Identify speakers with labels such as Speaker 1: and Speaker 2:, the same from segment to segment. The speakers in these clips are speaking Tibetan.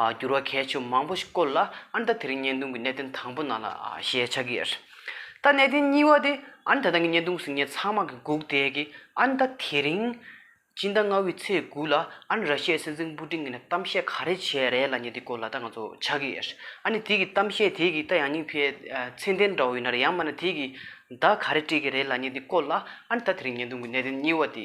Speaker 1: འགྱུར་བ་གལ་ཆེ་བ་མང་པོ་ཞིག་བཀོད་ལ་ཨ་མདའ་དེ་རིང་བརྙན་ཐུང་གི་གནད་དོན་དང་པོ་ནང་ལ་ཞེས་ཆགས་ཀྱི་ཡོད། ད་གནད་དོན་གཉིས་བ་དེ་ཨ་མདའ་དང་གི་བརྙན་ཐུང་ཟིན་ཉེ་ཚང་མ་གི་སྒུག་བསྡད་ཀྱི་ཨ་མདའ་དེ་རིང་སྤྱི་ཟླ་ལྔ་བའི་ཚེས་དགུ་ལ་ཨ་ནི་ར་ཤི་ཡའི་སྲིད་འཛིན་པུ་ཏིང་གི་ནས་གཏམ་བཤད་ག་རེ་བྱས་རེད་ལ་ཉེ་དེ་སྐོར་ལ་ད་ང་ཚོ་ཆགས་ཀྱི་ཡོད། ཨ་ནི་དེ་གི་གཏམ་བཤད་དེ་གི་ད་ཡང་སྙིང་ཕའི་མཚན་ལྡན་འདྲ་བོ་ཡིན་ན་རེད་ཡང་མ་ན་དེ་གི་བརྡ་ག་རེ་སྤྲད་ཀྱི་རེད་ལ་ཉེ་དེ་སྐོར་ལ་ཨ་ནི་ད་དེ་རིང་བརྙན་ཐུང་གི་གནད་དོན་གཉིས་བ་དེ།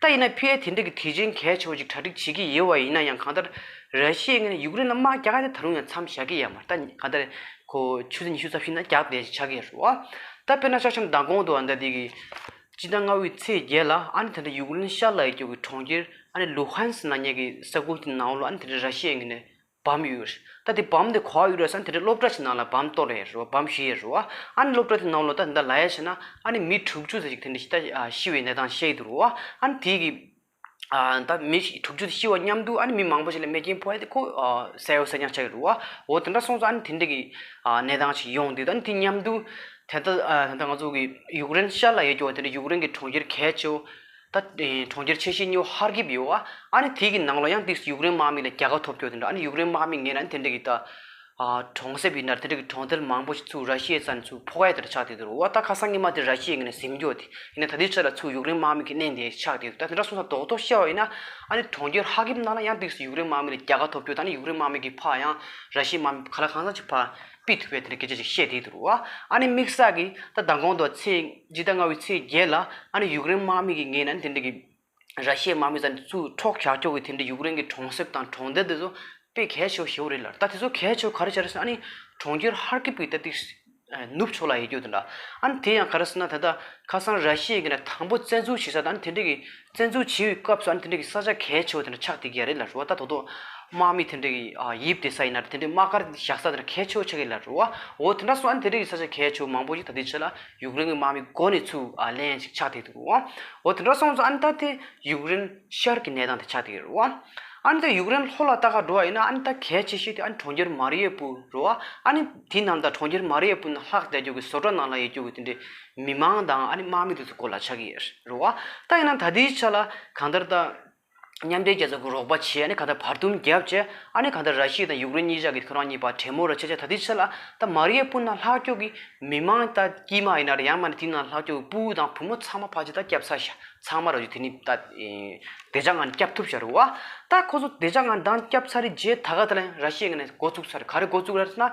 Speaker 1: ད་ཡིན་ན་ཕི་ཨེ་དེ་འདྲ་གི་དུས་ཆེན་གལ་ཆེ་བ་ཅིག་གྲ་སྒྲིག་བྱེད་ཀྱི་ཡོད་བ་ཡིན་ན་ཡང་གང་ལྟར་ར་ཤི་ཡས་ངན་ཡུཀ་རེན་ལ་དམག་རྒྱག་ག་དེ་ད་རུང་ཡང་མཚམས་བཞག་གི་ཡ་མ་རྟ་གང་ལྟར་ཁོ་ཆུ་ཚོད་ཉི་ཤུ་རྩ་བཞི་ན་རྒྱག་བསྡད་ཅིག་བྱ་གི་ཡ་རོ། ད་དཔེར་ན་ཤག་ཆམ་མདང་དགོང་དུ་ཨ་མདའ་དེ་གི། སྤྱི་ཟླ་ལྔ་བའི་ཚེས་བརྒྱད་ལ་ཨ་ནི་དེ་འདྲ་ཡུཀ་རེན་ཤར་ལྷོ་ཡི་ཀྱོག་གི་གྲོང་ཁྱེར་ཨ་ནི་ལུ་ཧན་སི་ན་ཉག་གི་ས་ཁུལ་དེ་ནང་ལོ་ཨ་ནི་དེ་འདྲ་ར་ཤི་ཡས་ངན་ནས་བམ་ཡོད་རེད། ད་དེ་བམ་དེ་གོ་བ་ཡོད་རེད་བསམ་དེ་འདྲའི་སློབ་གྲྭ་ཞིག་ནང་ལ་བམ་གཏོར་རེད་རེད་བམ་ཞུ་ཡས་རེད་བ། ཨ་ནི་སློབ་གྲྭ་དེ་ནང་ལོ་ཟླ་འདི་འདྲ་ལ་ཡས་བྱས་ན་ཨ་ནི་མི་དྲུག་ཅུ་ཟེར་ཞིག་དེ་འདྲ་ཞིག་ད་ཤི་བའི་གནས་སྟངས་བཤད་ཡི་འདུག་རོ། ཨ་ནི་དེ་གི་ད་མི་དྲུག་ཅུ་དེ་ཤི་བ་མཉམ་དུ་ཨ་ནི་མི་མང་པོ་ཞིག་ལ་མེ་སྐྱིན་ཕོག་ཡས་དེ་ཁོ་བསད་ཡོད་བསད་རྐྱང་བྱ་ཡི་རུ་བ། འོ་དེ་འདྲ་སོང་ཙང་ཨ་ནི་དེ་འདྲ་གི་གནས་སྟངས་ཞིག་ཡོང་དུས་ད་ནི་དེ་མཉམ་དུ་དེ་ད་ད་ང་ཚོ་གི་ཡུཀ་རེན་ཤར་ལ་ཡས་ཀྱི་བ་དེ་འདྲ་ཡུཀ་རེན་གི་གྲོང་ཁྱེར་གས་ཆེ་བོ། ད་གྲོང་ཁྱེར་ཆེ་ཤེས་ཉོ་ཧར་གིབ་ཡོ་ཨ་ཨ་ནི་དེ་གི་ནང་ལོ་ཡང་དེས་ཡུག་རེན་དམག་མི་ལ་རྒྱལ་ཁ་ཐོབ་ཀྱོ་དེ་འདྲ་ཨ་ནི་ཡུག་རེན་དམག་མི་ངེས་ན་དེ་འདྲ་གི་ད་གྲོང་གསེབ་ཡིན་ན་དེ་འདྲ་གི་གྲོང་རྡལ་མང་པོ་ཞིག་ཚུ་ར་ཤི་ཡའི་ས་ནས་ཚུ་ཕོ་ཁ་ཡའི་དེ་འདྲ་ཆགས་དེ་དུ་རུ་ཨོ་ད་ཁ་སང་ངེས་མ་དེ་ར་ཤི་ཡའི་ངེས་ན་གཟིམ་ཀྱོ་དེ་ཡིན་ན་ད་དེའི་ཆ་ལ་ཚུ་ཡུག་རེན་དམག་མི་གི་གནས་འདིའི་ཆགས་དེ་དུ་ད་དེ་འདྲ་སོང་ས་རྡོག་རྡོག་ཤི་ཡའོ་ཡིན་ན་ཨ་ནི་གྲོང་ཁྱེར་ཧར་གིབ་ནང་ལ་ཡང་དེས་ཡུག་རེན་དམག་མི་ལ་རྒྱལ་ཁ་ཐོབ་ཀྱོ་ད་ནི་ཡུག་རེན་དམག་མི་གི་ཕ་ཡང་ར་ཤི་ཡའི་དམག་མི་ཕ་ལ་གང་ས་ཅི་ཕ་པི་ཐི་བའི་དེ་ནས་སྐད་ཆ་ཅིག་བཤད་དེ་དུར་བ་ཨ་ནི་དམིགས་བསལ་གྱིས་ད་ལྡང་གོང་དུ་ཚེས་བཞི་དང་ལྔ་བའི་ཚེས་བརྒྱད་ལ་ཨ་ནི་ཡུཀ་རེན་དམག་མི་གིས་ངའི་ནང་དེ་འདྲ་གི་ར་ཤའི་དམག་མི་ཚ་ནས་ཚུར་འཕྲོག་ཞག་འཁྱོག་གིས་དེ་འདྲ་ཡུཀ་རེན་གྱི་གྲོང་གསེབ་དང་གྲོང་རྡལ་དེ་ཚོ་པེ་གྷལ་ཆོ་ཞེ་བོ་རེད་ལར་ད་དེ་ཚོ་གྷལ་ཆོ་ག་རེ་བྱ་རེ་ཟ་ཨ་ནི་གྲོང་ཁྱེར་ཧར་ཀིབ་ཀྱི་ད་ཏིག་ནུབ་ཕྱོགས་ལ་ཡལ་རྒྱུ་དེ་འདྲ་ཨ་ནི་དེ་ཡང་ག་རེ་ཟེར་ན་ད་ད་ཁ་སང་ར་ཤའི་གི་ན་དང་པོ་བཙན་འཛུལ་བྱེད་ས་དང་ཨ་ནི་དེ་འདྲ་གི་བཙན་འཛུལ་བྱེད་ཡུལ་སྐབས་སུ་ཨ་ནི་དེ་འདྲ་གི་ས་ཆ་གལ་ཆེ་བ་དེ་འདྲ་ཆགས་སྡིག་གི་ཡ་རེད་ལ་རུ་བ་ད་དོ་དོ་དམག་མི་དེ་འདྲ་གི་ཡིབ་དེ་ས་ཡིན་ན་རེ་དེ་འདྲའི་དམག་སྒར་བཞག་ས་དེ་འདྲ་གལ་ཆེ་བོ་ཆགས་ཀི་ལ་རུ་བ་འོ་དེ་འདྲ་སོང་ཨ་ནི་དེ་འདྲ་གི་ས་ཆ་གལ་ཆེ་བོ་མང་པོ་ཞིག་ད་ལྟའི་ཆ་ལ་ཡུག་རེན་གི་དམག་མི་མགོ་ནས་ཚུར་ལན་ཞིག་ཆགས་སྡིག་འདུག་གོ་འོ་དེ་འདྲ་སོང་ཙང་ཨ་ནི་ད་ལྟའི་ཡུག་རེན་ཤར་གི་གནས་སྟངས་དེ་ཆགས་སྡིག་རེད་རུ་བ་ཨ་ནི་ད་ཡུག་རེན་ལྷོ་ལ་ལྟ་ག་འགྲོ་བ་ཡིན་ན་ཨ་ནི་ད་གལ་ཆེ་ཤོས་དེ་ཨ་ནི་གྲོང་ཁྱེར་མཱ་རི་ཡེ་པུ་རུ་བ་ཨ་ནི་དེ་རྣམས་ད་གྲོང་ཁྱེར་མཱ་རི་ཡེ་པུ་ན་ལྷག་བརྒྱ་རྒྱུག་གི་བཟོ་གྲྭ་ནང་ལ་ཡི་རྒྱུག་གི་དེ་འདྲའི་མི་མང་དང་ཨ་ནི་དམག་མི་དེ་ཚོ་སྐོར་ལ་ཆགས་ཀྱི་རེད་བ། ད་ཡིན་ན་ད་ལྟའི་ཆ་ལ་གང་ལྟར་ད། མཉམ་འབྲེལ་རྒྱལ་ཚོགས་ཀྱི་རོགས་པ་བྱས་ཨ་ནི་གང་ལྟར་བར་འདུམ་བརྒྱབ་རྗེས་ཨ་ནི་གང་ལྟར་ར་ཤི་ཡ་དང་ཡུཀ་རེན་གཉིས་ཅག་གིས་ཁོ་རང་གཉིས་བར་གྲོས་མོལ་ར་བྱས་རྗེས་ད་ལྟའི་ཆ་ལ་ད་མ་རིའི་སྤུན་ནག་ལྷག་སྐྱོ་གི་མི་མང་ད་དཀྱིས་མ་ཡིན་ན་རེད་ཡང་མ་ནི་དེ་ནང་ལྷག་སྐྱོ་གི་སྤུ་དང་བུ་མོ་ཚང་མ་ཕ་ཅི་ད་སྐྱབས་ཚར་ཤ་ཚང་མ་ར་བྱུ་དེ་ནི་ད། བདེ་ཆགས་ངང་སྐྱབས་ཐུབ་ཤ་རེད་བ། ད་ཁོ་ཚོ་བདེ་ཆགས་ངང་འདང་སྐྱབས་ཚར་རྗེས་ད་ག་ད་ལན་ར་ཤི་ཡ་ངང་ནས་འགོ་བཙུགས་ཚར་ག་རེ་འགོ་བཙུགས་ར་ན་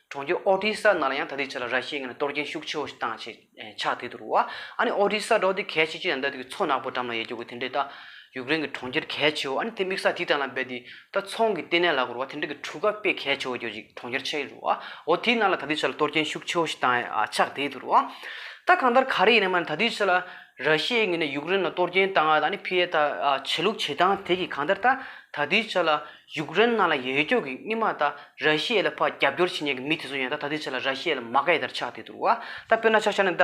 Speaker 1: གྲོང་ཁྱེར་ཨོ་ཏི་ས་ནང་ལ་ཡང་ད་ལྟའི་ཆར་ལ་ར་ཤི་ཡའི་ངོས་ནས་གཏོར་སྐྱོན་ཤུགས་ཆེ་བོ་ཞིག་བཏང་ཆེད་ཕྱག་དེ་དུར་བ། ཨ་ནི་ཨོ་ཏི་ས་འབྲོག་སྡེ་གལ་ཆེ་ཆེ་ཡང་ད་དུས་ཀྱི་མཚོ་ནག་པོ་འགྲམ་ལ་ཡལ་རྒྱུ་དགོས་དེ་འདྲའི་ད་ཡུཀ་རེན་གྱི་གྲོང་ཁྱེར་གལ་ཆེ་བོ་ཨ་ནི་དེ་དམིགས་ས་དེའི་དྲ་ལ་འབད་དེ་ད་ཚོང་གི་ལྟེ་གནས་ལ་གོར་བ་དེ་འདྲ་གི་གྲུ་ཁ་དཔེ་གལ་ཆེ་བོ་གྱོད་ཅིག་གྲོང་ཁྱེར་ཆེ་རུ་བའོ་དེའི་ནང་ལ་ད་ལྟའི་ཆར་ལ་གཏོར་སྐྱོན་ཤུགས་ཆེ་བོ་ཞིག་བཏང་ཕྱག་དེ་དུར་བ། ད་གང་ལྟར་ག་རེ་ཡིན་ན་མ་ད་ལྟའི་ཆར་ལ་ར་ཤི་ཡའི་ངོས་ནས་ཡུཀ་རེན་ལ་གཏོར་སྐྱོན་བཏང་ཨ་ནི་ཕི་ཡའི་ད་ཆེ་ལུགས་བྱེད་སྟངས་དེ་གིས་གང་ལྟར་ད་ད་ལྟའི་ཆར་ལ་ཡུཀ་རེན་ནང་ལ་ཡོད་ཀྱོག་གི་སྣེ་མ་ད་ར་ཤི་ཡའི་ལ་ཕ་རྒྱབ་སྐྱོར་བྱེད་ཉན་གི་མི་དེ་ཚོ་ཡང་ད་ད་དེ་ཆ་ལ་ར་ཤི་ཡའི་ལ་མ་ག་ཡི་དར་ཆགས་དེ་འདུག་བ་ད་དཔེར་ན་ཆ་ཤ་ནི་ད་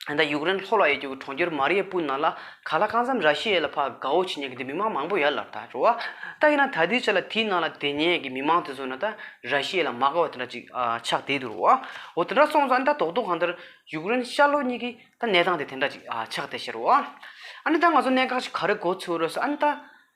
Speaker 1: ད་ཡུཀ་རེན་ལྷོ་ལ་ཡོད་ཀྱོག་གི་གྲོང་ཁྱེར་མ་རི་ཡ་པུལ་ནང་ལ་ག་ལ་གང་འཚམ་ར་ཤི་ཡའི་ལ་ཕ་དགའ་བོ་བྱེད་ཉན་གི་དེ་མི་མང་མང་པོ་ཡར་ལ་ད་འགྲོ་བ་ད་ཡིན་ན་ད་དེ་ཆ་ལ་དེའི་ནང་ལ་དེ་ཉན་ཡ་གི་མི་མང་དེ་ཚོ་ནི་ད་ར་ཤི་ཡའི་ལ་མ་ག་བ་དེ་འདྲ་ཅིག་ཆགས་དེ་འདུག་བ་འོ་དེ་འདྲ་སོང་ཙང་ད་དོག་དོག་གང་ལྟར་ཡུཀ་རེན་ཤར་ལྷོ་གཉིས་ཀྱི་ད་གནས་སྟངས་དེ་དེ་འདྲ་ཅིག་ཆགས་དེ་ཤེར་བ་ཨ་ནི་ད་ང་ཚོ་གནས་འགག་ཅིག་ག་རེ་གོ་ཚོད་རེད་ས་ཨ་ནི་ད།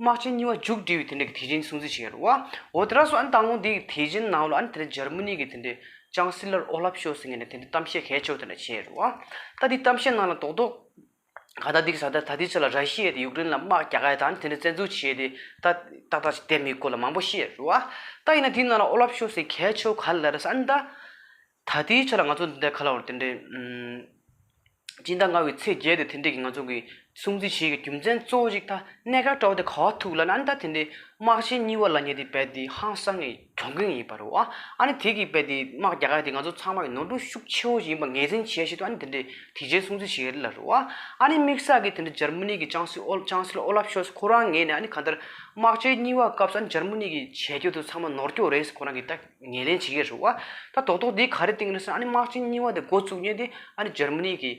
Speaker 1: དམག་ཆེན་གཉིས་བ་མཇུག་སྒྲིལ་བའི་དེ་འབྲེལ་གྱི་དེ་བྱིངས་སྲུང་བརྩི་བྱས་ཡོད། འོ་དེ་ར་སོ་ཨན་ཏང་ཀོང་སྡེ་གི་དེ་བྱིངས་ནང་ལོ་ཨན་དེ་འབྲེལ་ཇར་མ་ནི་གི་དེ་འབྲེལ་ཅང་སི་ལར་ཨོ་ལབ་ཤོལ་སི་ངས་ནས་དེ་འབྲེལ་གཏམ་བཤད་གལ་ཆོག་དེ་འདྲ་བྱས་ཡོད། ད་དེའི་གཏམ་བཤད་ནང་ལ་དོགས་དོགས། ག་ད་དེ་ག་ད་ད་དེའི་ཆ་ལ་ར་ཤི་ཡས་དེ་ཡུག་རེན་ལ་དམག་རྒྱག་ག་ཡ་དང་དེ་འདྲ་བཙན་འཛུལ་བྱས་ཏེ་ད་ཏག་ཏག་ཅིག་དེབ་མི་དགོས་ལ་མང་པོ་བཤད་ཡོད། ད་ཡིན་ན་དེའི་ནང་ལ་ཨོ་ལབ་ཤོལ་སི་གལ་ཆོག་ག་ལ་ར་སོ་ཨན་ད། ད་ལྟའི་ཆར་ང་ཚོ་འདི་འདྲའི་ཁ་ལོ་བ་དེ་འདྲས། སྤྱིན་ཟླ་ལྔ་བའི་ཚེས་བརྒྱད་དེ་དེ་འདྲས་ཀྱི་ང་ཚོ་གི་སྲུང་བརྩི་བྱེད་ཀྱི་རྒྱུ་མཚན་གཙོ་བོ་ཞིག་ད་གནས་སྐབས་བཀྲ་བྷ་དེ་ག་བ་ཐུག་ལ་ན་ཨ་ནི་ད་དེ་འདྲས་དམག་ཆེན་གཉིས་བ་ལ་ཉེ་དེ་བས་དེ་ཧང་སང་གི་གྱོང་གུན་ཡིན་པར་རོ། ཨ་ནི་དེ་གི་བས་དེ་དམག་རྒྱ་གར་དེ་ང་ཚོ་ཚང་མ་གི་ནོར་འཁྲུལ་ཤུགས་ཆེ་བོ་ཞིག་ཡིན་པ་ངེས་ཟིན་བྱས་བྱས་དུ་ཨ་ནི་དེ་འདྲས་དེ་ཆའི་སྲུང་བརྩི་བྱེད་རི་ལ་རོ། ཨ་ནི་དམིགས་བསལ་གི་དེ་འདྲས་འཇར་མུ་ནི་གི་ཅང་སི་ཨོལ་ཅང་སིལ་ཨོ་ལབ་ཤོལ་སི་ཁོ་རང་ངེས་ནས་ཨ་ནི་ག་འདིར་དམག་ཆེན་གཉིས་བ་སྐབས་སུ་ཨ་ནི་འཇར་མུ་ནི་གི་བྱས་རྒྱུ་དེ་ཚང་མ་ནོར་འཁྱོལ་རེད་སི་ཁོ་རང་གི་ལྟ་ངེས་ལེན་བྱེད་ཀྱི་རེད་བ། ད་རྡོག་རྡོག་འདི་ག་རེ་བཏིང་རེད་ཟེར་ན་ཨ་ནི་དམག་ཆེན་གཉིས་བ་དེ་འགོ་བཙུགས་ཉེ་དེ་ཨ་ནི་འཇར་མ་ནི་གི་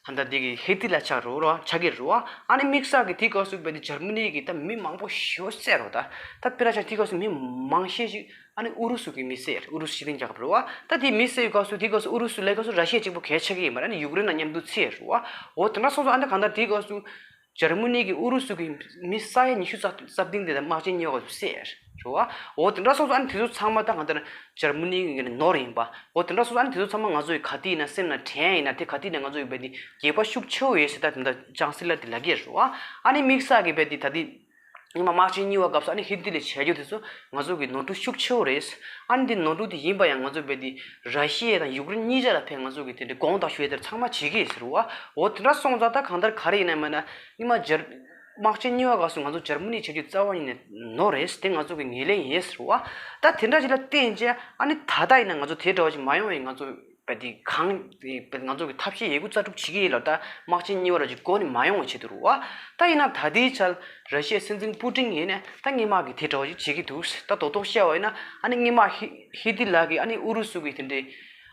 Speaker 1: ཧན་ད་འདི་གི་ཧེ་ཐི་ལ་ཆགས་རོགས་ར་ཆགས་ཀྱི་རེད་བ། ཨ་ནི་དམིགས་བསལ་གི་དེ་ག་སུ་བས་འདི་འཇར་མ་ནི་གི་ད་མི་མང་པོ་ཤི་བ་བསད་རོགས་ད། ད་པེ་ར་ཆ་དེ་ག་སུ་མི་མང་ཤས་ཤིག་ཨ་ནི་ཨུ་རུ་སུ་གི་མི་བསད་རེད་ཨུ་རུ་སུ་ཕྱི་གླིང་རྒྱལ་ཁབ་རེད་བ། ད་དེ་མི་བསད་ག་སུ་དེ་ག་སུ་ཨུ་རུ་སུ་ལས་ག་སུ་ར་ཤས་གཅིག་པོ་གས་ཆགས་ཀྱི་ཡིན་པ་རེད་ཨ་ནི་ཡུཀ་རེན་ན་མཉམ་དུ་འཚེ་རེད་བ། འོ་དེ་འདྲ་སོང་སོང་ཨ་ནི་ག་ད་དེ་ག་སུ། ཇར་མུ་ནི་གིས་ཨུ་རུ་སུ་གྱི་མི་ས་ཡ་ཉི་ཤུ་རྩ་བདུན་དེ་དག་དམག་སྦྱིན་ཉོས་པ་ཟེར། རེད་བ། འོ་དེ་འདྲ་སོང་ཙང་ཨ་ནི་དེ་ཚོ་ཚང་མ་ད་ང་ལྟར་ཇར་མུ་ནི་གི་ནི་ནོར་ཡིན་པ། འོ་དེ་འདྲ་སོང་ཙང་ཨ་ནི་དེ་ཚོ་ཚང་མ་ང་ཚོ་ཡི་ག་དེ་ཡིན་ན་སེམས་ན་དྲན་ཡིན་ན་དེ་ག་དེ་ཡིན་ན་ང་ཚོ་ཡི་བེ་དེ་རྒྱས་པ་ཤུགས་ཆེའོ་ཡོད་ཟེར་ད་དེ་འདྲ་ཅང་སྲིད་ལ་དེ་ལ་གེར་རེད་བ། ཨ་ནི་དམིགས་བསལ་གི་བེ་དེ་ད་དེ་ཉི་མ་དམར་ཆེན་བསྙིལ་བ་སྐབས་སུ་ཨ་ནི་ཧི་འདི་ལས་བྱེད་རྒྱུ་དེ་ཚོ་ང་ཚོ་གི་ནོར་འཁྲུལ་ཤུགས་ཆེ་བོ་རེད། ཨ་ནི་འདི་ནོར་འཁྲུལ་དེ་ཡིན་པ་ཡང་ང་ཚོ་བལ་འདི་ར་ཤི་ཡའི་དང་ཡུག་རེན་གཉིས་ཆ་ལ་ཕན་ང་ཚོ་གི་དེ་འདྲའི་དགོངས་དག་ཞུས་དེར་ཚང་མ་བྱེད་ཀྱི་ཟེར་བ་འོ་དེ་འདྲ་སོང་ཙང་ད་གང་ལྟར་ག་རེ་ཡིན་ནམ་ཡང་ན་ཉི་མ་སྦྱར། དམག་ཆེན་བསྙིལ་བ་སྐབས་སུ་ང་ཚོ་སྦྱར་མོ་ནི་བྱེད་རྒྱུ་རྩ་བ་ཉིད་ནས་ནོར་རེད་དེ་ང་ཚོ་གི་ངེས་ལེགས་ཡིན་ཟེར་བ། ད་དེ་འདྲ་ཅིག་ལ་བརྟེན་རྗེས་ཨ་ནི་ད་ལྟ་ཡིན་ན་ང་ཚོ་དེ་འདྲ་བ་ཞིག་མ་ཡོང་བའི་ང་ཚོ་པའི་དེ་གང། པའི་ང་ཚོ་གི་ཐབས་ཤེས་ཡས་ཁུ་རྩ་དྲུག་བྱེད་ཀྱི་ཡིན་ལ་ད་དམག་ཆེན་གཉིས་བར་གྱི་སྒོ་ནི་མ་ཡོང་བའི་ཆེད་དུ་རུ་བ། ད་ཡིན་ན་ད་ལྟའི་ཆར་ར་ཤི་ཡའི་སྲིད་འཛིན་པུ་ཀྲིན་ཡིན་ནས་ད་སྔས་དམག་གི་དེ་འདྲ་བ་ཞིག་བྱེད་ཀྱི་འདུག་ད་རྡོག་རྡོག་བཤད་བ་ཡིན་ན་ཨ་ནི་སྔས་དམག་ཧི་ཧི་ཏི་ལགས་ཀྱིས་ཨ་ནི་ཨུ་རུ་སུ་གི་དེ་འདྲའི།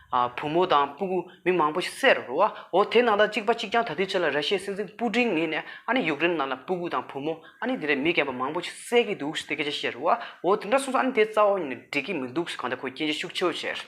Speaker 1: བུ་མོ་དང་སྤུ་གུ་མི་མང་པོ་ཞིག་བསད་རུ་བ་འོ་དེ་ནང་ད་གཅིག་པ་གཅིག་རྐྱང་ད་ལྟའི་ཆར་ལ་ར་ཤི་ཡའི་སྲིད་འཛིན་པུ་ཀྲིན་ཡིན་ནས་ཨ་ནི་ཡུཀ་རེན་ནང་ལ་སྤུ་གུ་དང་བུ་མོ་ཨ་ནི་དེ་འདྲའི་མི་རྒན་པོ་མང་པོ་ཞིག་བསད་ཀྱི་འདུག་དེ་སྐད་ཆ་བཤད་རུ་བ་འོ་དེ་འདྲ་གསུངས་སོང་ཨ་ནི་དེ་རྩ་བ་ཉིད་ནས་འགྲིག་གི་མི་འདུག་གང་ལྟར་ཁོས་སྐྱེན་བརྗོད་ཤུགས་ཆེ་བོ་བྱས།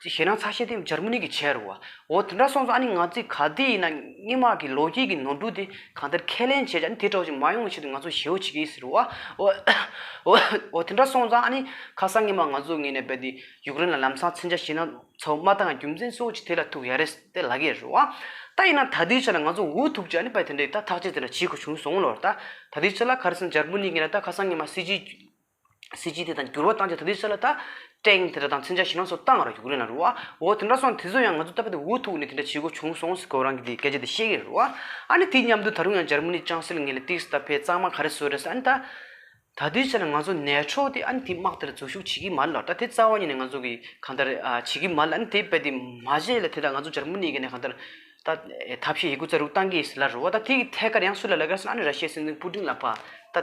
Speaker 1: ཅིག་བྱས་ན་ཚ་ཤེད་དེ་འཇར་མ་ནི་གི་ཆས་རུ་བ། འོ་དེ་འདྲ་སོང་ཙང་ཨ་ནི་ང་ཚོས་ག་དུས་ཡིན་ན་སྙེ་མ་གི་ལོ་རྒྱུས་ཀྱི་ནོར་འཁྲུལ་དེ་གང་ལྟར་ཁས་ལེན་བྱས་ཀྱང་ཨ་ནི་དེ་གྲོགས་ཅིག་མ་ཡོང་བའི་ཆེད་དུ་ང་ཚོས་ཞེ་བོ་བྱེད་ཀྱི་ཡིན་ཟེར་རུ་བ། འོ་དེ་འདྲ་སོང་ཙང་ཨ་ནི་ཁ་སང་སྙེ་མ་ང་ཚོ་ངེད་ནས་བས་ཏེ་ཡུཀ་རེན་ལ་ལམ་སང་ཚན་ཆ་བྱས་ན་ཚོ་མ་དང་རྒྱུ་མཚན་སོགས་ཀྱིས་དེ་ལ་ཐུག་ཡ་རེད་ཏེ་ལག་གཡས་རུ་བ། ད་ཡིན་ན་ད་དུས་ཆ་ལ་ང་ཚོ་འུ་ཐུག་ཅིག་ཨ་ནི་བས་དེ་འདྲ་ཡིན་ད་ཐག་ཆེད་དེ་འདྲ་བྱེད་དགོས་བྱུང་སོང་ལོ། ད་དུས་ཆ་ལ་ག་རེ་སོང་འཇར་མ་ནི་གི་ན་ད་ཁ་སང་སྙེ་མ་སྲིད་ཇུས་གཟི་བརྗིད་དེ་དང་འགྱུར་བ་བཏང་རྗེས་ད་ལྟའི་ཆ་ལ་ད། ཀྲེང་དེ་འདྲ་དང་ཚན་ཆ་ཞིག་ནང་སོ་ལྟ་ང་རང་ཡུག་རེན་ལ་རུ་བ། འོ་དེ་འདྲ་སོང་དེ་ཚོ་ཡང་ང་ཚོ་ལྟ་བུ་དེ་འུ་ཐུག་ནས་དེ་འདྲ་བྱེད་དགོས་བྱུང་སོང་ཟེར་ཁོ་རང་གིས་དེའི་སྐད་ཆ་དེ་ཤེས་ཀྱི་རེད་རུ་བ། ཨ་ནི་དེ་མཉམ་དུ་ད་རུང་ཡང་འཇར་མ་ནི་ཅང་སེལ་ངེད་ལ་ཏིགས་ཟད་པས་གཙང་མ་ག་རེ་བཟོས་རེད་ཟེར་ཨ་ནི་ད། ད་ལྟའི་ཆ་ལ་ང་ཚོ་ནད་འཕྲོག་དེ་ཨ་ནི་དེའི་དམག་དེ་ལ་འཛུལ་ཞུགས་བྱེད་ཀྱི་མ་རེད་ལ་ད་དེ་རྩ་བ་ཉིད་ནས་ང་ཚོ་གིས་གང་ལྟར་བྱེད་ཀྱི་མ་རེད་ལ་ཨ་ནི་དེའི་དཔེ་དེ་མ་བྱས་ལ་དེ་དང་ང་ཚོ་འཇར་མ་ནིའི་སྒེར་ནས་གང་ལྟར་ད། ཐབས་ཤེས་ཡིག་གུ་རྩ་རུག་བཏང་གི་ཟེར་ལ་རུ་བ་ད་དེའི་ཐད་ཀར་ཡང་སུ་ལ་ལ་ཀར་སོང་ཨ་ནི་ར་ཤེས་སྲིད་འཛིན་པུ་ཏིང་ལ་ཕ་ད།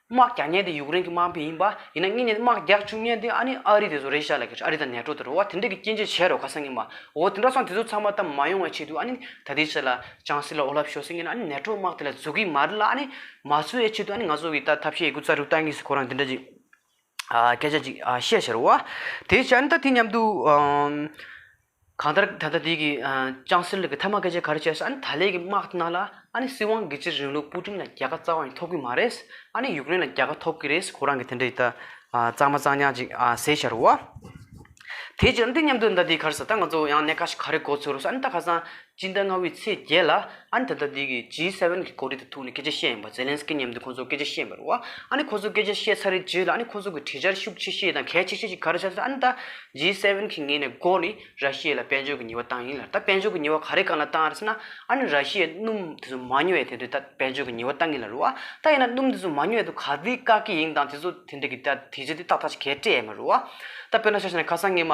Speaker 1: དམག་རྒྱག་མཁན་དེ་ཡུཀ་རེན་གྱི་དམག་མི་ཡིན་པ་ཡིན་ན་དངོས་གནས་དམག་རྒྱག་བཅུག་མཁན་དེ་ཨ་ནི་ཨ་རི་དེ་ཚོ་རེད་ཤག་ལ་ཁེལ་ཆུ་ཨ་རི་དང་ནེ་ཏྲོ་དེ་རོ་བ་དེ་འདྲས་ཀྱི་སྐྱེ་མཆེད་བྱས་རོགས་ཁ་སང་ངས་མ་འོ་དེ་འདྲ་སོང་དེ་ཚོ་ཚང་མ་ད་མ་ཡོང་བའི་ཆེད་དུ་ཨ་ནི་ད་དེ་ཆེད་ལ་ཅང་སི་ལ་ཨོ་ལ་བྷྱོ་སི་ངས་ཨ་ནི་ནེ་ཏྲོ་དམག་དེ་ལ་འཛུགས་གི་མ་རེད་ལ་ཨ་ནི་མ་འཚོལ་བའི་ཆེད་དུ་ཨ་ནི་ང་ཚོ་གི་ད་ཐབས་ཤེས་ཡོད་རྒུ་རྩ་རུ་བཏང་གི་སུ་ཁོ་རང་དེ་འདྲ་ཅིག་སྐད་ཆ་ཅིག་བཤད་བྱས་རོགས་བ། དེའི་ཕྱིར་ཨ་ནི་ད་དེ་མཉམ་དུ། གང་ལྟར་ད་ལྟ་དེ་གི་ཅང་སེ་རི་གི་ཐ་མག་སྐད་ཆ་ག་རེ་བཤད་སོང་ཨ་ནི་ད་ལས་ཀྱི་དམག་དེ་ནང་ལ་ཨ་ནི་སྲིད་དབང་སྒེར་གཅོད་རིང་ལུགས་དཔུས་ཁྲིམས་ལ་རྒྱལ་ཁ་རྩ་བ་ནས་ཐོབ་གི་མ་རེད་ཨ་ནི་ཡུག་རེན་ལ་རྒྱལ་ཁ་ཐོབ་གི་རེད་ཁོ་རང་གི་དེ་འདྲ་ཡི་ད་གཙང་མ་གཙང་ཉག་ཅིག་ཟེར་ཤར་བ། དེའི་རྗེས་འདི་མཉམ་དུ་ཟླ་འདིའི་ཁར་ཟ་ད་ང་ཚོ་ཡང་གནས་ཁ་ཞིག་ག་རེ་གོ་ཚོད་རོགས་ཟེར་ཨ་ནི་ད་ཁ་སང་སྤྱི་ཟླ་ལྔ་བའི་ཚེས་བརྒྱད་ལ་ཨ་ནི་ད་ལྟ་དེ་གི G7གི་གོ་སྒྲིག་དང་ཐུག་ནས་སྐད་ཆ་བཤད་ཡིན་པ་ཛེ་ལན་སི་ཀི་མཉམ་དུ་ཁོང་ཚོ་སྐད་ཆ་བཤད་པར་རོ། ཨ་ནི་ཁོ་ཚོ་སྐད་ཆ་བཤད་ཚར་རེ་རྗེས་ལ་ཨ་ནི་ཁོ་ཚོ་གི་བྲིས་འཆར་ཤུགས་ཆེ་ཤོས་དང་གལ་ཆེ་ཤོས་ཤིག་ག་རེ་བྱ་ཚོད་ཨ་ནི་ད G7གི་ངེས་ནས་སྒོ་ནི་ར་ཤི་ཡའི་ལ་དཔལ་འབྱོར་གི་ཉི་བ་བཏང་ཡིན་ལ་ད་དཔལ་འབྱོར་གི་ཉི་བ་ག་རེ་གང་ལ་བཏང་རེ་ཟེར་ན་ཨ་ནི་ར་ཤི་ཡའི་སྣུམ་དེ་ཚོ་མ་ཉོ་ཡས་དེ་འདྲའི་ད་དཔལ་འབྱོར་གི་ཉི་བ་བཏང་ཡིན་ལ་རོ། ད་ཡིན་ན་སྣུམ་དེ་ཚོ་མ་ཉོ་ཡས་དུ་ག་དུས་བཀག་གི་ཡིན་དང་དེ་ཚོ་དེ་འདྲའི་གི་ད་དེ་རྗེས་དེ་ཏག་ཏག་ཅིག་གས་སྤྲད་ཡས་མ་རོ། ད་དཔེར་ན་བྱ་ཞེ་ན་ཁ་སང་ངས་མ།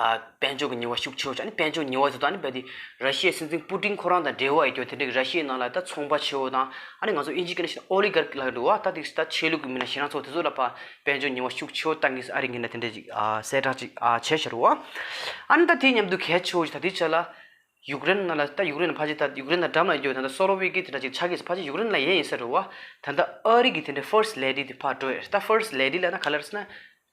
Speaker 1: དཔལ་འབྱོར་གྱི་ཉེས་བ་ཤུགས་ཆེ་བ་བྱུང་དཔལ་འབྱོར་ཉེས་བ་དེ་དག་ནི་ར་ཤི་ཡའི་སྲིད་འཛིན་པུ་ཏིན་ཁོ་རང་དང་འབྲེལ་བ་ཡོད་སྐྱོར་དེ་འབྲེལ་ར་ཤི་ཡའི་ནང་ལ་ད་ཚོང་པ་ཆེ་བོ་དང་ཨ་ནི་ང་ཚོ་ཨི་ཇི་ཀི་ན་ཤི་ཨོ་ལི་གར་ཀི་ལགས་འགྲོ་བ་ད་དེ་ད་ཆོས་ལུགས་ཀྱི་མི་སྣ་ཤི་རང་ཚོ་དེ་ཚོ་ལ་ཕ་དཔལ་འབྱོར་ཉེས་བ་ཤུགས་ཆེ་བོ་བཏང་གི་སི་ཨ་རི་གི་ན་དེ་འདྲ་ཅིག་གསལ་བསྒྲགས་ཅིག་བྱས་ཤར་བ་ཨ་ནི་ད་དེའི་མཉམ་དུ་གལ་ཆེ་བོ་ཞིག་ད་དེའི་ཆ་ལ་ཡུག་རེན་ནང་ལ་ད་ཡུག་རེན་ལ་ཕ་ཅི་ད་ཡུག་རེན་ན་འགྲམ་ལ་ཡོད་ད་ད་སོ་རོ་བྷི་ཀི་དེ་འདྲ་ཅིག་ཆགས་ཀི་སི་ཕ་ཅི་ཡུག་རེན་ལ་ཡས་ཡིན་ས་རོ་བ་ད་ད་ཨ་རི་གི་དེ་འདྲ་ཧྥིརས་ལེ་ལྡི་དེ་ཕ་འགྲོ་ཡས་ད་ཧྥིརས་ལེ་ལྡི་ལ་ན་ག་ལ་རེ་ས་ན་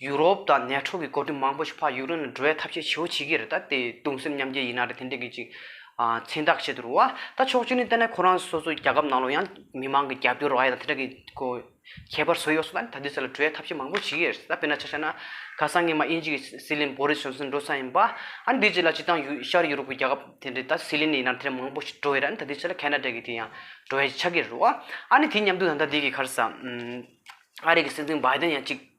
Speaker 1: ཡུ་རོབ་དང་ནེ་ཁྲོ་གི་བགོ་གྲིམ་མང་པོ་ཞིག་ཕ་ཡུག་རེན་ལ་འགྲོ་བའི་ཐབས་ཤེས་ཇི་བོ་བྱེད་ཀྱི་རེད་ད་དེ་གདུང་སེམས་མཉམ་སྐྱེ་ཡིན་ན་རེད་དེ་འདྲས་གི་ཅིག་མཚན་རྟགས་བྱེད་དུ་རུང་བ་ད་ཕྱོགས་བཅུ་ནས་བལྟས་ན་ཁོ་རང་སོ་སོའི་རྒྱ་ཁབ་ནང་ལོ་ཡང་མི་མང་གི་རྒྱབ་སྐྱོར་བ་ཡང་དེ་འདྲས་གི་གོ་ཁྱད་པར་བཟོ་ཡོག་སོང་ད་ད་དེ་ས་ལ་འགྲོ་བའི་ཐབས་ཤེས་མང་པོ་བྱེད་ཀྱི་རེད་ད་དཔེར་ན་ཆ་ཤ་ན་ག་སང་ངེད་མ་དབྱིན་ཇི་གི་སི་ལིན་བོ་རི་སོན་སོན་འགྲོ་ས་ཡིན་པ་ཨ་འདི་ཅི་ལ་ཅི་དང་ཡུལ་ཤར་ཡུ་རོབ་གི་རྒྱ་ཁབ་དེ་འདྲས་ད་སི་ལིན་ཡིན་ན་དེ་འདྲས་མང་པོ་ཞིག་འགྲོ་ཡི་རེད་ད་དེ་ཆ་ལ་ཁ་ན་ཏྲ་གི་དེ་ཡང་འགྲོ་བའི་ཆགས་ཀྱི་རེད་བ་ཨ་ནི་དེ་མཉམ་དུ་ད་ད་དེ་གི་ཁར་སང་ཨ་རི་གི་སྲིད་འཛིན་བྷའི་དན་ཡང་ཅིག།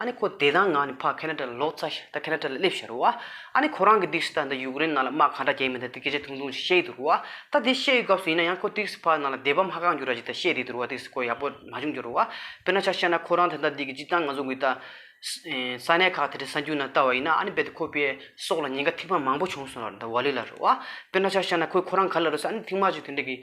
Speaker 1: ཨ་ནི་ཁོ་དེ་དང་ང་ནི་ཕ་ཁེ་ན་ཏྲ་ལ་ལོག་ཚ་ཞིང་ད་ཁེ་ན་ཏྲ་ལ་སླེབས་ཤི་རུ་བ། ཨ་ནི་ཁོ་རང་གི་སྡིགས་སུ་ད་ད་ཡུག་རེན་ནང་ལ་དམག་གང་འདྲ་རྒྱལ་མི་འདི་འདི་སྐད་ཆ་ཐུང་ཐུང་ཞིག་བཤད་ཡི་འདུག་རུ་བ། ད་དེ་བཤད་ཡུལ་སྐབས་སུ་ཡིན་ན་ཡང་ཁོ་སྡིགས་སུ་ཕ་ནང་ལ་བསྡད་བབ་མ་གང་རྒྱུ་ར་ཅིག་ད་བཤད་དེ་འདུག་རུ་བ་སྡིགས་སུ་ཁོ་ཡག་པོ་མ་བྱུང་རྒྱུ་རུ་བ། དཔེར་ན་ཆ་བཤད་ན་ཁོ་རང་དེ་ད་སྡིག་གི་ཅི་ཙང་ང་ཚོ་འགུལ་ད། ས་གནས་ཁག་དེ་དྲི་ས་འགྱུར་ན་ལྟ་བ་ཡིན་ན་ཨ་ནི་རྦད་དེ་ཁོ་པའི་སྲོག་ལ་ཉེན་ཁ་ཐིག་མ་མང་པོ་བྱུང་སོང་ར་རུ་ད་བ་ལི་ལ་རུ་བ། དཔེར་ན་ཆ་བཤད་ན་ཁོས་ཁོ་རང་ག་ལ་རུ་ས་ཨ་ནི་ཐིག་མ་ཅིག་དེ་འདྲ་གི།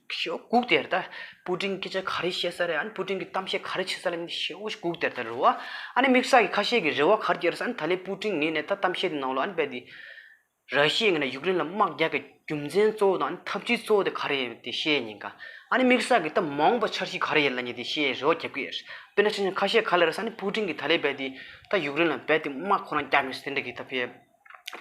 Speaker 1: ཞེའུ་སྒུག་སྟེར་ད། སྤུ་ཀྲིང་སྐད་ཆ་ག་རེ་བཤད་ས་རེད་ཨ་ནི་སྤུ་ཀྲིང་གི་གཏམ་བཤད་ག་རེ་བྱེད་ས་རེད་ཞེའུ་སྒུག་སྟེར་ད་རེད་བ། ཨ་ནི་མིག་ས་ཀྱི་ཁ་ཤས་ཀྱི་རེ་བ་གར་གྱེར་ས་ཨ་ནི་ད་ལེ་སྤུ་ཀྲིང་ངས་ནས་ད་གཏམ་བཤད་དེ་ནང་ལོ་ཨ་ནི་རྦད་དེ། ར་ཤི་ཡས་ངས་ནས་ཡུག་རེན་ལ་དམག་རྒྱག་གི་རྒྱུ་མཚན་གཙོ་བོ་དང་ཨ་ནི་ཐབས་ཇུས་གཙོ་བོ་དེ་ག་རེ་ཡོད་དེ་བཤད་ཉིན་ག། ཨ་ནི་མིག་ས་ཀྱི་ད་མ་འོངས་པ་འཆར་གཞི་ག་རེ་ཡིན་ལ་ཉེ་དེ་བཤད་རེ་བ་རྒྱབ་ཀྱི་ཡོད། དཔེར་ན་ཆ་ཆང་ཁ་ཤས་ག་ལེར་ས་ཨ་ནི་སྤུ་ཀྲིང་གིས་ད་ལེ་རྦད་དེ། ད་ཡུག་རེན་ལ་རྦད་དེ་དམག་ཁོ་རང་རྒྱག་མི་སྲིད་དེ་འདྲ་གི་ད་ཕེབས།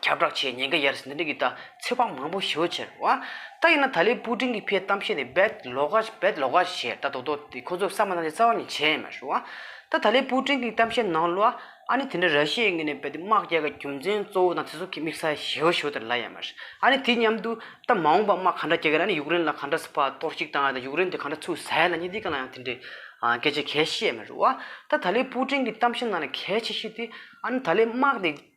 Speaker 1: ཁྱབ་བསྒྲགས་བྱས་ཉེན་ཁ་ཡར་ཟིན་ཟླ་འདི་གི་ད་ཚེ་བག་མང་པོ་ཞོ་ཆེར་བ། ད་ཡིན་ན་ད་ལེ་པུ་ཀྲིན་གི་ཕའི་གཏམ་བཤད་དེ་བེད་ལོག་ག་བེད་ལོག་ག་བྱས་ད་དོག་དོག་དེ་ཁོ་ཚོ་བསམ་པ་ན་ཅི་རྩ་བ་ནས་བྱས་མ་ཤོག་བ། ད་ད་ལེ་པུ་ཀྲིན་གི་གཏམ་བཤད་ནང་ལོ་ཨ་ཨ་ནི་དེ་འདྲ་ར་ཤི་ཡའི་ངོས་ནས་བེད་དེ་དམག་རྒྱལ་ག་རྒྱུ་མཚན་གཙོ་བོ་དང་ཚེ་སྲོག་གི་དམིགས་ས་ཞོ་ཞོ་དེར་ལ་ཡ་མ་རེད་ཨ་ནི་དེ་མཉམ་དུ་ད་མ་འོངས་པ་དམག་ག་འདྲ་རྒྱག་གི་ར་ཨ་ནི་ཡུཀ་རེན་ལ་ག་འདྲ་ཕ་གཏོར་བཤིག་བཏང་ཡ་ད་ཡུཀ་རེན་དེ་ག་འདྲ་ཚུགས་ཟ་ཡ་ལ་ཉེ་དེ་ག་ལ་ཡང་དེ་འདྲའི་སྐད་ཆ་གས་ཤེས་མ་ཤོག་བ། ད་ད་ལེ་པུ་ཀྲིན་གི་གཏམ་བཤད་ནང་ལ་གས་ཆེ་ཤོས་དེ་ཨ་ནི་ད་ལེ་དམག་དེ།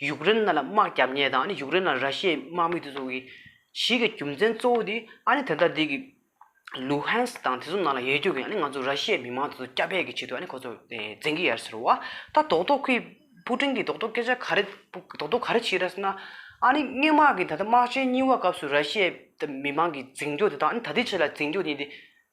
Speaker 1: ཡུཀ་རེན་ནཱ་ལ་དམག་རྒྱབ་གཉེར་དང་ཨ་ནི་ཡུཀ་རེན་ནཱ་ར་ཤི་ཡའི་དམག་མི་དེ་ཚོ་གིས་གཞིས་ཀྱི་རྒྱུ་མཚན་གཙོ་བོ་དེ་ཨ་ནི་དེ་དག་དེ་གི། ལུ་ཧན་སི་དང་དེ་ཚོ་ནང་ལ་ཡལ་རྒྱུ་གིས་ཨ་ནི་ང་ཚོ་ར་ཤི་ཡའི་མི་མང་དེ་ཚོ་བསྐྱབ་སྦས་ཀྱི་ཆེད་དུ་ཨ་ནི་ཁོ་ཚོ་བཙན་གྱི་ཡར་ཟེར་བ། ད་རྡོག་རྡོག་གིས་པུ་ཀྲིན་གྱི་རྡོག་རྡོག་སྐད་ཆ་ག་རེ་རྡོག་རྡོག་ག་རེ་བྱེད་ར་ཟེར་ན། ཨ་ནི་སྔས་དམག་གིས་ད་ལྟ་དམག་ཆེན་གཉིས་བ་སྐབས་སུ་ར་ཤི་ཡའི་མི་མང་གི་འཛིང་རྒྱོ་དེ་དག་ཨ་ནི་ད་ལྟའི་ཆེད་ལ་འཛིང་རྒྱོ་ཡིན་ཏེ།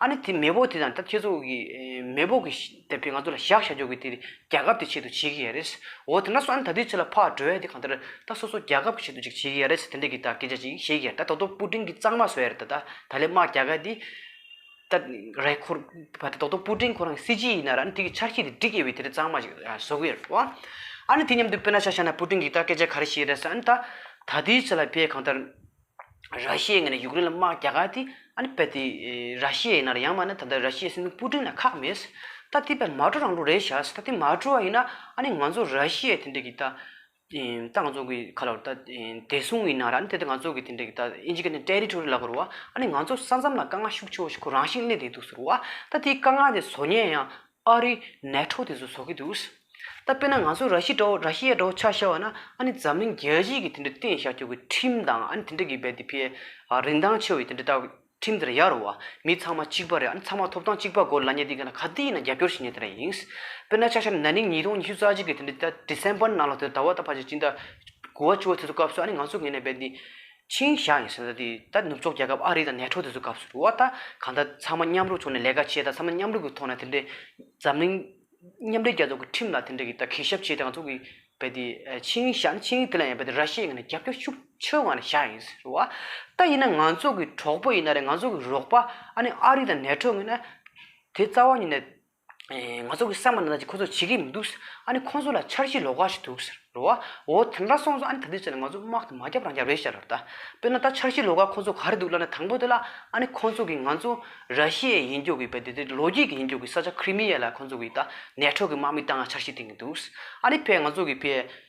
Speaker 1: ཨ་ནི་དེ་མེས་པོ་དེ་དང་ད་ཁྱེད་ཚོ་གིས་མེས་པོ་གིས་བསྡད་པའི་ང་ཚོ་ལ་བཞག་བཞག་རྒྱོག་གི་དེ་རྒྱ་ཁབ་དེ་ཆེད་དུ་བྱེད་གི་ཡ་རེད། འོ་དེ་འདྲ་སོང་ཨ་ནི་ད་དུས་ཚོད་ལ་ཕག་གྲོལ་ཡ་དེ་གང་ལྟར་ད་སོ་སོ་རྒྱ་ཁབ་གི་ཆེད་དུ་ཅིག་བྱེད་གི་ཡ་རེད་དེ་འདྲ་གི་ད་སྐད་ཆ་ཅིག་བཤད་གི་ཡ་རེད་ད་ད་དོ་སྤུ་ཀྲིང་གི་གཙང་མ་བཟོ་ཡ་རེད་ད་ད་ལེ་དམག་རྒྱ་གར་དེ་ད་རེད་ཁོ་བ་དེ་ད་དོ་སྤུ་ཀྲིང་ཁོ་རང་གི་སྲིད་སྤྱི་ཡིན་ན་ར་ཨ་ནི་དེ་གི་ཆར་ཁྱི་དེ་འབྲི་སྐྱེ་བའི་དེ་འདྲ་གཙང་མ་ཅིག་བཟོ་གི་ཡ་རེད་བ། ཨ་ནི་དེ་མཉམ་དུ་དཔེར་ན་ཤ་ཤ་ན་སྤུ་ཀྲིང་གི་ད་སྐད་ཆ་ག་རེ་བཤད་ཡ་རེད་ས་ཨ་ནི་ད་ད་དུས་ཚོད་ལ་བས་གང་ལྟར། ར་ཤི་ཡའི་ངོས་ནས་ཡུཀ་རེན་ལ་དམག་རྒྱག་ག་དེ་ཨ་ནི་པད་དེ་ར་ཤི་ཡའི་ཡིན་ན་རེད་ཡང་མ་ནི་ད་ལྟ་ར་ཤི་ཡའི་སྲིད་དོན་སྤུ་ཀྲིང་ལ་ཁག་མེད་ཟེར། ད་དེ་པད་མ་བཀྲོ་རང་ལུགས་རེད་བྱ་ཟེར་ད་དེ་མ་བཀྲོ་བ་ཡིན་ན་ཨ་ནི་ང་ཚོ་ར་ཤི་ཡའི་དེ་འདྲས་ཀྱི་ད་ཙང་ཙོང་གི་ཁ་ལོ་ད་བདེ་སྲུང་ཡིན་ན་ར་ཨ་ནི་དེ་ད་ང་ཚོ་གི་དེ་འདྲས་ཀྱི་ད་ཨིན་ཇི་ཀ་ནི་ཏེ་རི་ཐོ་རི་ལ་གོ་རུ་བ་ཨ་ནི་ང་ཚོ་ས་མཚམས་ལ་དཀའ་ངལ་ཤུགས་ཆེ་བོ་ཞིག་ཁོ་རང་ཞིག་གླེང་བསྡད་འདུག་ཟེར་རུ་བ་ད་དེའི་དཀའ་ངལ་དེ་བཟོ་ཉན་ཡང་ཨ་རི་ནད་ཁྲོག་དེ་ཚོ་བཟོ་གི་འདུག། ད་དཔེར་ན་ང་ཚོ་ར་ཤི་འདྲ་བོ་ར་ཤི་ཡ་འདྲ་བོ་ཆགས་ཤར་བ་ན་ཨ་ནི་འཛམ་གླིང་རྒྱལ་སྤྱི་གི་དེ་འདྲའི་བརྟན་བཞག་རྒྱུག་གི་ཁྲིམས་དང་ཨ་ནི་དེ་འདྲ་གི་བའི་དེ་ཕའི་རིན་ཐང་ཆེ་བ་ཡི་དེ་འདྲ་ལྟ་ཁྲིམས་དེ་འདྲ་ཡག་རུ་བ་མི་ཚང་མ་གཅིག་པ་རེད་ཨ་ནི་ཚང་མ་ཐོབ་ཐང་གཅིག་པ་སྒོ་ལ་ཉེ་དེ་ག་ན་ག་དེ་ཡིན་ན་རྒྱབ་སྐྱོར་བྱེད་ཉེ་དེ་འདྲ་ཡིན། དཔེར་ན་ཆགས་ཤར་ན་ནིང་ཉིས་སྟོང་ཉི་ཤུ་རྩ་གཅིག་གི་དེ་འདྲའི་ད December ནང་ལ་དེ་ཟླ་བ་ད་ཕར་ཆ་གཅིག་ཟླ་དགུ་བ་བཅུ་བ་དེ་ཚོ་སྐབས་སུ་ཨ་ནི་ང་ཚོ་གི་ནས་བའི་དེ་ཆིང་ཞའོ་ཡིན་ཟེར་ན་དེ་ད་ནུབ་ཕྱོགས་རྒྱལ་ཁབ་ཨ་རི་དང་ནེ་ཁྲོ་དེ་ཚོའི་སྐབས་སུ་རུ་བ་ད་གང་ལྟར་ཚང་མ་མཉམ་རུབ་བྱུང་ནས་ལས་ཀ་བྱས་ད་ཚང་མ་མཉམ་རུབ་ཀྱི་ཐོག་ནས་དེ་འདྲའི་འཛམ་གླིང་མཉམ་འབྲེལ་རྒྱལ་ཚོགས་ཀྱི་ཁྲིམས་ལ་དེ་འདྲའི་གི་ད་གུས་ཞབས་བྱས་ད་ང་ཚོ་གི་བལ་དེ་ཆིང་ཞའོ་ནི་ཆིང་དེ་ལ་ཡང་བལ་དེ་ར་ཤི་ཡའི་ངང་ནས་རྒྱབ་སྐྱོར་ཤུགས་ཆེའོ་ངང་ནས་ཞའོ་ཡིན་ཟེར་རུ་བ་ད་ཡིན་ན་ང་ཚོ་གི་གྲོགས་པོ་ཡིན་ན་རེད་ང་ཚོ་གི་རོགས་པ་ཨ་ནི་ཨ་རི་དང་ནེ་ཁྲོ་ངོས་ན་དེ་རྩ་བ་ཉིད་ནས་ང་ཚོ་གིས་བསམ་པ་ན་ད་ཅི་ཁོ་ཚོ་བྱེད་ཀྱི་མི་འདུག་ཟེར། ཨ་ནི་ཁོ་ཚོ་ལ་འཆར་གཞི་ལོག་ཁ་ཞིག་འདུག་ཟེར། རེ་བ། འོ་དེ་འདྲ་སོང་ཚོ་ཨ་ནི་ད་དུས་ཚོད་ལ་ང་ཚོ་དམག་དེ་མ་བརྒྱབ་རང་བརྒྱབ་རེད་ཤག་རེད། དཔེར་ན་ད་འཆར་གཞི་ལོག་ཁ་ཁོ་ཚོ་ག་རེ་འདུག་ལབ་ན་དང་པོ་དེ་ལ་ཨ་ནི་ཁོ་ཚོ་གིས་ང་ཚོ་ར་ཤི་ཡའི་ཡིན་རྒྱུག་གི་བལ་དེ་ལོ་རྒྱུས་ཀྱི་ཡིན་རྒྱུག་གི་ས་ཆ་ཁི་རི་མི་ཡ་ལ་ཁོ་ཚོ་གིས་ད་ནད་ཁྲོག་གི་དམག་མི་བཏང་ང་འཆར་གཞི་བཏིང་གི་འདུག་ཨ་ནི་བལ་ང་ཚོ་གིས་བལ།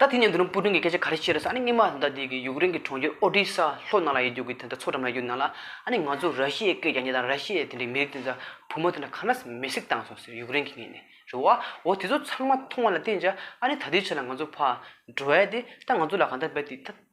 Speaker 1: ད་དེ་ནས་འདི་རུ་སྤུ་ཀྲིང་གི་སྐད་ཆ་ག་རེ་བཤད་རེས་ཨ་ནི་སྔོན་མ་ད་ལྟའི་གི་ཡུཀ་རེན་གི་གྲོང་ཁྱེར་ཨོ་ཏྲི་ས་ལྷོ་ནང་ལ་ཡོད་རྒྱུ་གི་དེ་འདྲ་མཚོ་འགྲམ་ལ་ཡོད་རྒྱུ་ནང་ལ་ཨ་ནི་ང་ཚོ་ར་ཤི་ཡའི་སྐད་རྒྱག་ཉེ་དང་ར་ཤི་ཡའི་དེ་འདྲའི་མི་རིགས་དེ་འདྲ་བུ་མོ་དེ་འདྲ་ག་ནས་མེ་སྲེག་བཏང་སོང་ཟེར་ཡུཀ་རེན་གི་ངེད་ནས་རེད་བ་འོ་དེ་ཚོ་ཚང་མ་མཐོང་བ་ལ་བརྟེན་ཅག་ཨ་ནི་ད་ལྟའི་ཆ་ལ་ང་ཚོ་ཕར་འགྲོ་ཨེ་དེ་ད་ང་ཚོ་ལ་གང་འདྲ་འབད་དེ་ད།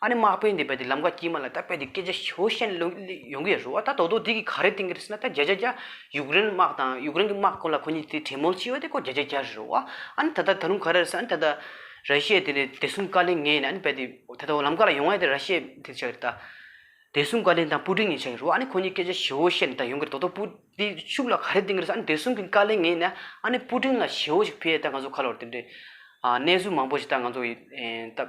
Speaker 1: ཨ་ནི་མག་པའི་འདི་པའི་འདི་ལམ་ཀ་དཀྱིལ་མ་ལ་ད་པའི་འདི་སྐད་ཆ་ཞོ་ཤན་ལོ་ཡོང་གི་རུ་བ་ད་དོག་དོག་འདི་གི་ག་རེ་གཏིང་གི་རེད་ཟེར་ན་ད་རྒྱ་རྒྱ་རྒྱ་ཡུག་རེན་དམག་དང་ཡུག་རེན་གི་དམག་ཁོ་ལ་ཁོ་གཉིས་དེ་དྲེད་མོ་ལྕི་བ་དེ་ཁོ་རྒྱ་རྒྱ་རྒྱ་རེད་རུ་བ་ཨ་ནི་ད་ད་ད་རུང་ག་རེ་རེད་ཟེར་ན་ད་ད་ར་ཤེ་དེ་ནི་བདེ་སྲུང་བཀའ་ལན་ངས་ནི་ཨ་ནི་པའི་འདི་ད་ད་ལམ་ཀ་ལ་ཡོང་བ་ཡ་དེ་ར་ཤེ་དེ་ཆགས་རེད་ད། བདེ་སྲུང་བཀའ་ལན་དང་སྤུ་ཀྲིང་ཡིན་ཆགས་རུ་བ་ཨ་ནི་ཁོ་གཉིས་སྐད་ཆ་ཞོ་ཤན་ད་ཡོང་གི་རེད་དོག་དོག་སྤུ་འདི་ཤུགས་ལ་ག་རེ་གཏིང་གི་རེད་ཟེར་ཨ་ནི་བདེ་སྲུང་གི་བཀའ་ལན་ངས་ནི་ཨ་ནི་སྤུ་ཀྲིང་ལ་ཞོ་ཞིག་ཕུལ་ཡ་ད་ང་ཚོ་ཁ་ལོར་དེ་འདྲའི་གནས་ཚུལ་མང་པོ་ཞིག་ད་ང་ཚོ་ཡི་ད།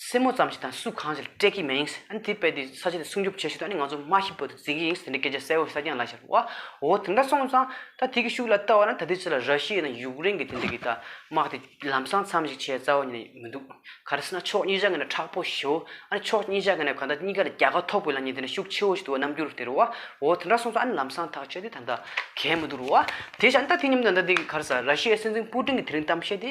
Speaker 1: སེན་མོ་ཙམ་ཞིག་དང་སུ་གང་ཞིག་སྤྲད་ཀྱི་མེད་ཡིན། དེ་དཔེ་དེ་ས་ཆ་དེ་སྲུང་སྐྱོབ་བྱེད་ཤུལ་དུ་ནི་ང་ཚོ་མ་ཧི་བོ་དེ་བརྩི་གི་ཡིན་དེ་འདྲའི་སྐད་ཆ་གསལ་བོ་གསལ་རྐྱང་ལབ་ཤར་བ་འོ་དེ་འདྲ་སོང་ཙང་ད་དེ་གི་ཤུགས་ལ་ལྟ་བ་ན་ད་དེ་ཕྱི་ལ་ར་ཤི་ཡའི་ནང་ཡུག་རེན་གྱི་དེ་འདྲ་གི་ད་དམག་དེ་ལམ་སང་མཚམས་ཤིག་བྱས་རྩ་བ་ཉིད་ནས་མི་འདུག་ག་རེ་ཟེར་ན་ཕྱོགས་གཉིས་ཆ་གི་ནས་དྲག་པོ་ཞི་བོ་ཨ་ནི་ཕྱོགས་གཉིས་ཆ་གི་ནས་ག་ད་གཉིས་ཀ་ལ་རྒྱལ་ཁ་ཐོབ་དགོས་ལ་ཉིད་དེ་ནས་ཤུགས་ཆེ་བོ་ཞིག་འདུག་བ་རྣམ་འགྱུར་དེ་རུ་བ་འོ་དེ་འདྲ་སོང་ཙང་ཨ་ནི་ལམ་སང་ཐག་ཆོད་དེ་ད་ད་གས་མི་འདུག་རུ་བ་དེ་ཤ་ཨ་ནི་ད་དེ་ཉིན་མོ་ད་ད་དེ་གི་ག་རེ་ཟེར་ར་ཤི་ཡའི་སྲིད་འཛིན་པུ་ཀྲིན་གྱི་དེ་རིང་གཏམ་བཤད་དེ།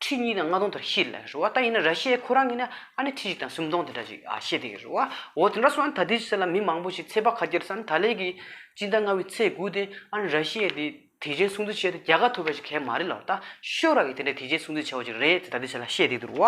Speaker 1: ཁྲི་གཉིས་དང་ལྔ་སྟོང་དེར་ཤེས་ལ་རེད་བ་ད་ཡིན་ན་ར་ཤི་ཡའི་ཁོ་རང་གིས་ན་ཨ་ནི་ཁྲི་གཅིག་དང་སུམ་སྟོང་དེ་འདྲ་ཅིག་ཨ་ཤེས་དེ་རེད་བ་འོ་དེ་འདྲ་སོང་ན་ད་དེའི་ཚེ་ལ་མི་མང་པོ་ཞིག་ཚེ་དཔག་ཁ་རྒྱར་ས་ནི་ད་ལས་ཀྱི་སྤྱི་ཟླ་ལྔ་བའི་ཚེས་དགུ་སྟེ་ཨ་ནི་ར་ཤི་ཡའི་དེ་དེ་བྱས་སྲུང་བརྩི་བྱས་ཏེ་རྒྱལ་ཁ་ཐོབ་པ་ཞིག་གལ་མ་རེད་ལ་བ་ད་ཤོ་ར་གིས་དེ་འདྲ་དེ་བྱས་སྲུང་བརྩི་བྱས་བ་ཅིག་རེད་ཅེས་ད་དེའི་ཚེ་ལ་ཤེས་དེ་རེད་བ།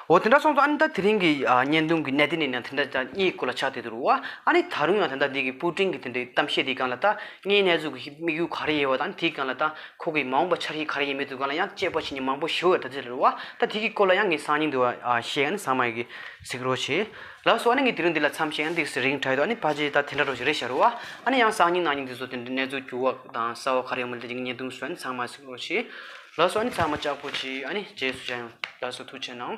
Speaker 1: འོ་དེ་འདྲ་སོང་ཙང་ཨ་ནི་ད་དེ་རིང་གི་བརྙན་ཐུང་གི་གནད་དོན་ནི་ཡང་དེ་འདྲ་ཅང་རྙེད་དགོས་ལ་ཆགས་བསྡད་དུ་རུང་བ་ཨ་ནི་ད་རུང་ཡང་དེ་འདྲ་འདི་གི་པུའུ་ཀྲིང་གི་དེ་འདྲའི་གཏམ་བཤད་དེ་གང་ལ་ད་ངའི་གནས་ཚུལ་གྱི་དམིགས་ཡུལ་ག་རེ་ཡིན་བ་དང་དེའི་གང་ལ་ད་ཁོ་གི་མ་འོངས་པ་འཆར་གཞི་ག་རེ་ཡིན་མིན་དུ་གང་ལ་ཡང་དཔྱད་པ་བྱེད་མྱོང་མང་པོ་ཞུ་འོས་ད་ཚོད་རེད་བ་ད་དེ་གི་སྐོར་ལ་ཡང་ངས་སང་ཉིན་དུ་ཤེས་ཨ་ནི་ཟངས་མ་ཡི་གི་གཟིགས་རོགས་བྱས། ལགས་སོ་ཨ་ནི་ངས་དེ་རིང་འདི་ལ་མཚམས་ཤིག་ཨ་ནི་འདི་གི་རིང་བྲལ་དུ་ཨ་ནི་ཕ་ཆེ་ད་དེ་འདྲ་རོགས་བྱེད་རེ་བྱ་རུང་བ་ཨ་ནི་ཡང་སང་ཉིན་གནང་ཉིན་འདི་ཚོ་དེ་འདྲའི་གནས་ཚུལ་འགྱུར་བ་དང་གསལ་བ་ག་རེ་ཡོང་མིན་ད་དེ་གི་བརྙན་ཐུང་བཟོས་ཨ་ནི་ཟངས་མ་གཟིགས་རོགས་བྱས། ལགས་སོ་ཨ་ནི་ཚང་མ་ལྕགས་པོ་གཅིག་ཨ་ནི་རྗེས་སུ་བྱ་ཡང་ལགས་སོ་ཐུགས་ཆེ་གནང།